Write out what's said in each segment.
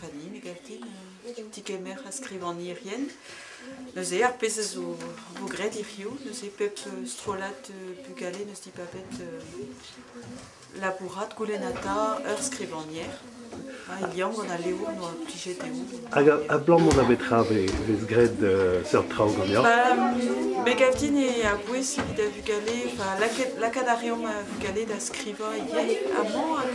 Fanny megaltin, tigemer ha skrivagnerien. Neuze, ar pezh a zo vo graet hiziv, neuze pep strollad bugale n'eus dibabet labourat, goulennata ur skrivagner. Ha il liamm gant al levrioù on a plijet dezho. Hag abalamour da betra vez graet seurt traoù ganeoc'h? Ba, megaltin eo a-bouez evit a vugale, lakaat a reomp vugale da skrivañ ivez amañ hag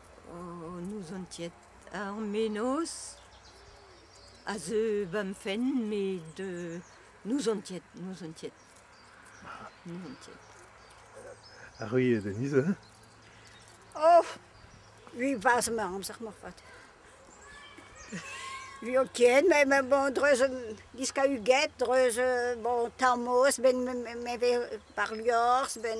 An ozontiad, ar menoz a zeu ba'm fenn met n'ozontiad, n'ozontiad, n'ozontiad. Ar riez en niz aze? Oh! Ui vazh ma amzer-mañ 'vat. Ui ho ken, met bon dreuz diskahuget, dreuz bon tarmoz, ben me vez par liorzh, ben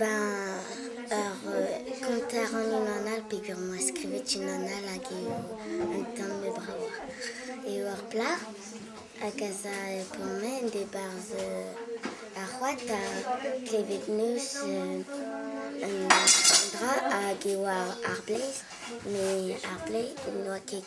Ben ur gaoter anv an Alp peogwir 'm boa skrivet unan all hag eo un tamm bravoc'h. Eo ur plac'h hag ez a p'omp en debarzh ar c'hoad da klevet neuz un dra hag eo ar blez. Met ar blez n'oa ket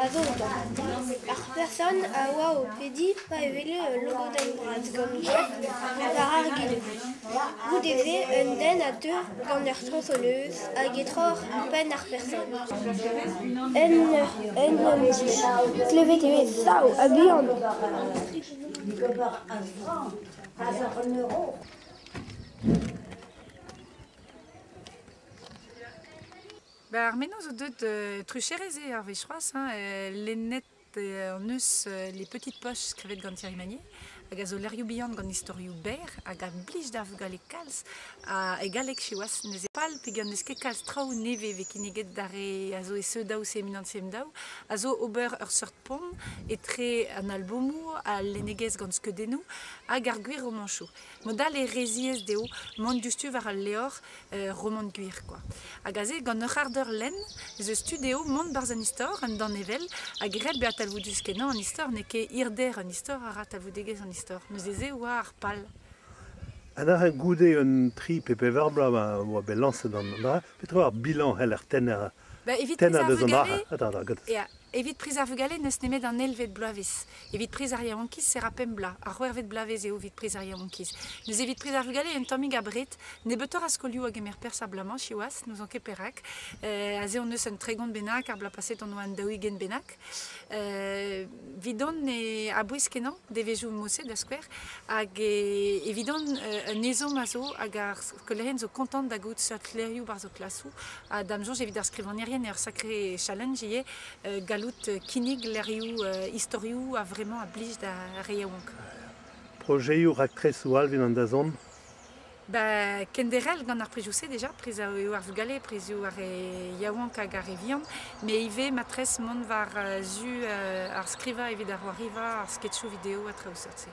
a zo outañ. Ar person a oa o pediñ pa wele ul logodenn bras gant Jack war ar gilo. Goude-se, un den a teu gant ur strosoleuz hag e troc'h penn ar person. Un nemesis. Klevet eo e sav ha bihan. Ba ar menoz zo deuet euh, trucherez eo ar wech c'hoazh hein, euh, lennet euh, hon eus euh, les petites poches skrivet gant Thierry Magnier hag a zo lec'hioù bihan gant istorioù berr hag a blij da vugale kalz ha e galleg siwazh ne zez pal peget n'eus ket kalz traoù nevez vez kinniget d'ar re a zo e CE2 ou CE1 CM2 a zo ober ur seurt pont etre an albomoù, al lennegezh gant skeudennoù hag ar gwir romañsoù. Mod all e reziez dezho mont diouzhtu war al levr romant gwir kwa. Hag aze gant ur c'harr-deur lenn ez eus tu dezho mont barzh an istor un danevell ha graet bezañ talvoudus-kenañ an istor n'eo ket hirder an istor a ra talvoudegezh an istor. Neuze-se e oa ar pal. Un dra goude un tri pe pevar bloaz ma oa bet lañset an dra, petra eo ar bilañs c'heller tennañ da zont ac'h a? Ya, Evit priz ar vugale n'eus nemet an eilvet bloavezh. Evit priz ar yaouankiz se ra pemp bloaz. Ar c'hwec'hvet bloavezh eo evit priz ar yaouankiz. Neuze evit priz ar vugale un tammig abred. Nebeutoc'h a skolioù a gemer perzh er bloaz-mañ siwazh, n'ouzon ket perak. aze hon eus un tregont bennak, ar bloaz paset hon oa un daou-ugent bennak. Evidon e a-bouez-kenañ devezhioù moset da skouer. Hag evidon un ezhomm a zo hag ar skolaerien zo kontant da gaout seurt levrioù war zo klasoù. Ha da'm soñj evit ar skrivagnerien eo ur sakre challenge ivez gallout kinnig lec'hioù istorioù a-vremañ a blij d'ar re yaouank. Projeoù raktresoù Alvin an Dazont. Ba kenderc'hel gant ar prizioù-se deja, priz eo ar vugale, prizioù ar re yaouank hag ar re vihan, met ivez ma tres mont war zu ar skrivañ evit ar c'hoariva, ar sketchoù video ha traoù seurt-se.